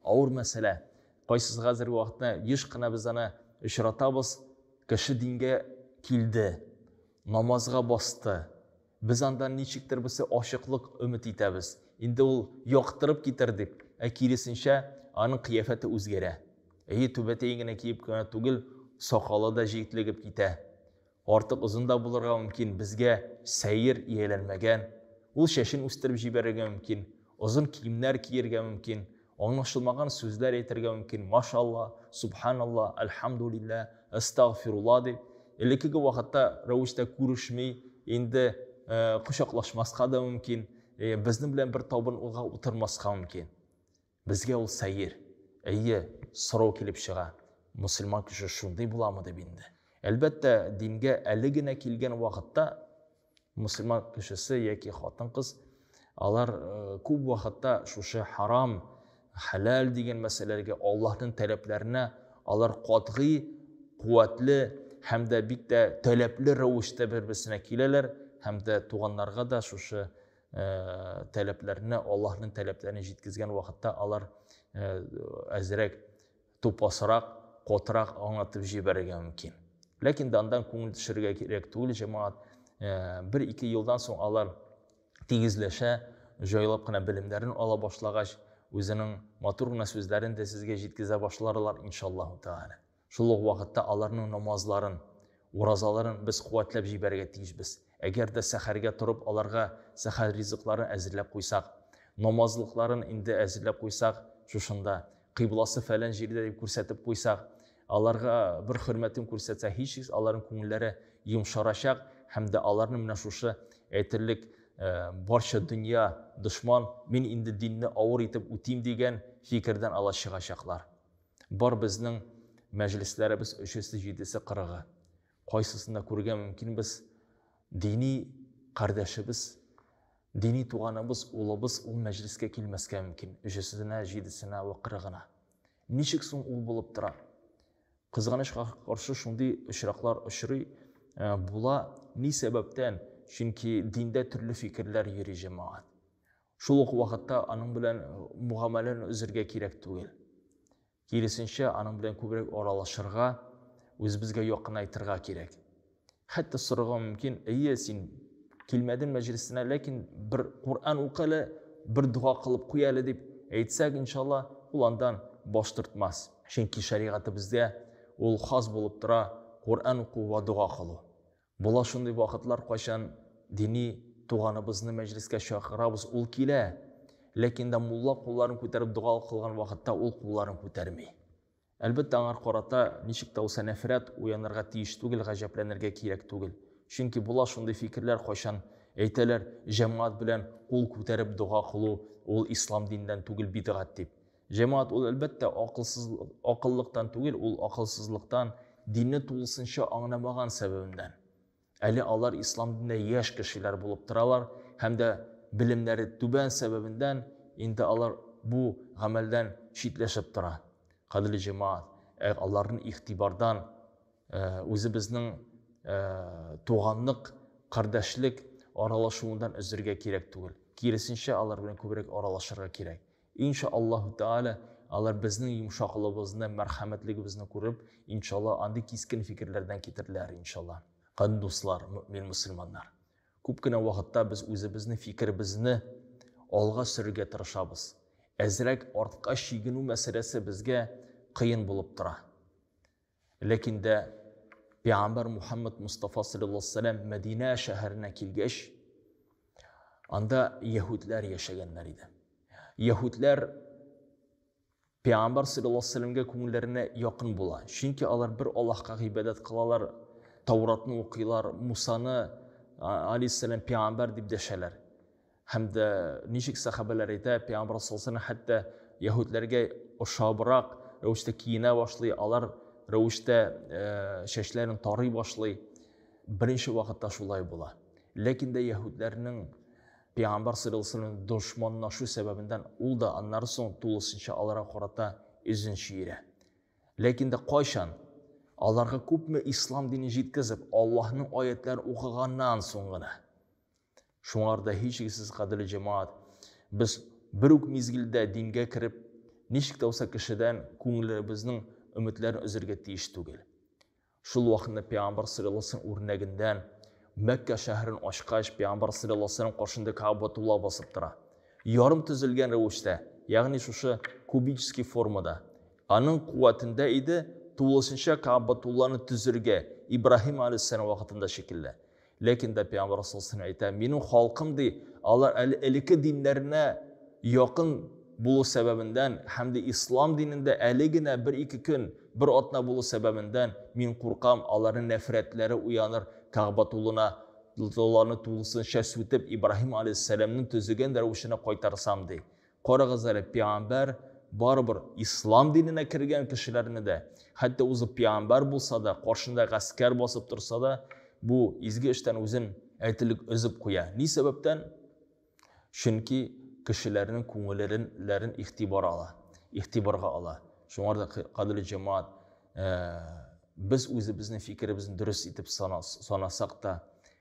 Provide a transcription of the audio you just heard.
Авыр мәсьәлә. Кайсысы хәзерге вакытта еш кына без аны очратабыз. Кеше дингә килде, намазга басты. Без анда ничектер берсе ачыклык өмет итәбез. Инде ул яктырып китер дип, ә киресенчә, аның кыяфәте үзгәрә. Әйе, түбәтәен генә киеп кенә түгел, сакалы да җитлегеп китә. Артык озын да булырга мөмкин, безгә сәер, ияләнмәгән. Ул чәчен үстереп җибәрергә мөмкин, озын киемнәр киергә мөмкин, аңлашылмаган сүзләр әйтергә мөмкин, машалла, субханалла, әлхәмдүлиллә, әстәгъфирулла дип. Элеккеге вакытта рәвештә күрешми, инде кочаклашмаска да мөмкин, безнең белән бер табын унга утырмаска мөмкин. Безгә ул сәер, әйе, сорау килеп чыга, мөселман кеше шундый буламы дип инде. Әлбәттә, дингә әле генә килгән вакытта мөселман кешесе яки хатын-кыз алар э, күп вакытта шушы харам, хәләл дигән мәсьәләләргә, Аллаһның таләпләренә алар катгый, куәтле һәм дә бик тә таләпле рәвештә бер-берсенә киләләр һәм дә туганнарга да шушы ә, таләпләренә, Аллаһның таләпләрен җиткезгән вакытта алар ә, әзрәк тупасрак, котрак аңлатып җибәрергә мөмкин. Ләкин дә андан күңел төшерергә кирәк түгел, җәмәгать. Ә, бер ике елдан соң алар тигезләшә, җайлап кына белемнәрен ала башлагач, үзенең матур гына сүзләрен дә сезгә җиткезә башларлар, иншаллаһу тәгалә. Шул ук вакытта аларның намазларын, уразаларын без куәтләп җибәрергә тиешбез. Әгәр дә сәхәргә торып аларга сәхәр ризыкларын әзерләп куйсак, намазлыкларын инде әзерләп куйсак, шушында, кыйбласы фәлән җирдә дип күрсәтеп куйсак, аларга бер хөрмәтен күрсәтсәк, һичшиксез аларның күңелләре йомшарачак һәм дә аларны менә шушы әйтерлек барча дөнья дошман, мин инде динне авыр итеп үтим дигән фикердән ала чыгачаклар. Бар безнең мәҗлесләребез өчесе, җидесе, кырыгы. Кайсысында күрергә мөмкин без дини кардәшебез, дини туганыбыз, улыбыз ул мәҗлескә килмәскә мөмкин. Өчесенә, җидесенә вә кырыгына. Ничек соң ул булып тора? Кызганычка каршы шундый очраклар очрый э, була. Ни сәбәптән? Чөнки диндә төрле фикерләр йөри җәмәгать. Шул ук вакытта аның белән мугамәләне өзергә кирәк түгел. Киресенчә, аның белән күбрәк аралашырга, үзебезгә якынайтырга кирәк. Хәтта сорарга мөмкин, әйе, син килмәдең мәҗлесенә, ләкин бер Коръән укы әле, бер дога кылып куй әле дип әйтсәк, иншалла, ул андан баш тартмас. Чөнки шәригатебездә ул хас булып тора Коръән уку ва дога кылу. Була шундый вакытлар, кайчан дини туганыбызны мәҗлескә чакырабыз, ул килә, ләкин дә мулла кулларын күтәреп дога кылган вакытта ул кулларын күтәрми. Әлбәттә, аңар карата ничек тә булса нәфрәт уянырга тиеш түгел, гаҗәпләнергә кирәк түгел. Чөнки була шундый фикерләр, кайчан әйтәләр, җәмгать белән кул күтәреп дога кылу ул ислам диненнән түгел, бидгать дип. Җәмәгать ул әлбәттә акылсыз акыллыктан түгел, ул акылсызлыктан, динне тулысынча аңламаган сәбәбеннән. Әле алар ислам динендә яшь кешеләр булып торалар һәм дә белемнәре түбән сәбәбеннән инде алар бу гамәлдән читләшеп тора. Кадерле җәмәгать, ә аларны игътибардан э, үзебезнең э, туганлык, кардәшлек аралашуыннан өзергә кирәк түгел. Киресенчә, алар белән күбрәк аралашырга кирәк. Инша Аллаһу Тәгалә, алар безнең йомшаклыгыбызны, мәрхәмәтлегебезне күреп, иншалла, андый кискен фикерләрдән китерләр, иншалла. Кан дуслар, мөмин мусульманнар. Күп кенә вакытта без үзебезнең фикеребезне алга сөрергә тырышабыз. Әзрәк артка чигенү мәсьәләсе безгә кыен булып тора. Ләкин дә пәйгамбәр Мухаммад Мустафа саллаллаһу алейһи вәсәлләм Мәдинә шәһәренә килгәч, анда яһүдләр яшәгәннәр иде. Яһүдләр пәйгамбәр саллаллаһу алейһи вәсәлләмгә күңелләренә якын була. Чөнки алар бер Аллаһка гыйбадәт кылалар, Тауратны укыйлар, Мусаны алейһиссәлам пәйгамбәр дип дәшәләр. Һәм дә ничек сәхабәләр әйтә, пәйгамбәр саллаллаһу хәтта яһүдләргә ошабрак рәвештә киенә башлый, алар рәвештә чәчләрен тарый башлый. Беренче вакытта шулай була. Ләкин дә яһүдләрнең пәйгамбәр саллаллаһу дошманлашу сәбәбеннән ул да аннары соң тулысынча аларга карата үзен чөйрә. Ләкин дә кайчан аларга күпме ислам дине җиткезеп, Аллаһның аятларын укыганнан соң гына Шуңар да һичшиксез, кадерле җәмәгать, без бер үк мизгелдә дингә кереп, ничек тә булса кешедән күңелебезнең өметләрен өзергә тиеш түгел. Шул вакытны пәйгамбәр саллаллаһу алейһи ва үрнәгендән Мәккә шәһәрен ачкач, пәйгамбәр саллаллаһу алейһи ва сәлләм каршында Кәгъбәтулла басып тора. Ярым төзелгән рәвештә, ягъни шушы кубический формада. Аның куәтендә иде тулысынча Кәгъбәтулланы төзергә Ибраһим алейһиссәлам вакытында шикелле. Ләкин дә пәйгамбәр саллаллаһу әйтә, минем халкым ди, алар әле элекке диннәренә якын булу сәбәбендән һәм дә ислам динендә әле генә бер-ике көн, бер атна булу сәбәбендән мин куркам, аларның нәфрәтләре уяныр, Кәгъбатуллына ларны тулысынча сүтеп, Ибраһим алейһиссәламнең төзегән рәвешенә кайтарсам, ди. Карагыз әле, пиамбәр барыбер ислам диненә кергән кешеләрне дә, хәтта узып пиамбәр булса да, каршында гаскәр басып торса да, бу изге эштән үзен әйтелек өзеп куя. Ни сәбәптән? Чөнки кешеләрнең күңелләрен игътибар ала, игътибарга ала. Шуңар да кадерле җәмаат, э, без үзебезнең фикеребезне дөрес итеп санасак та,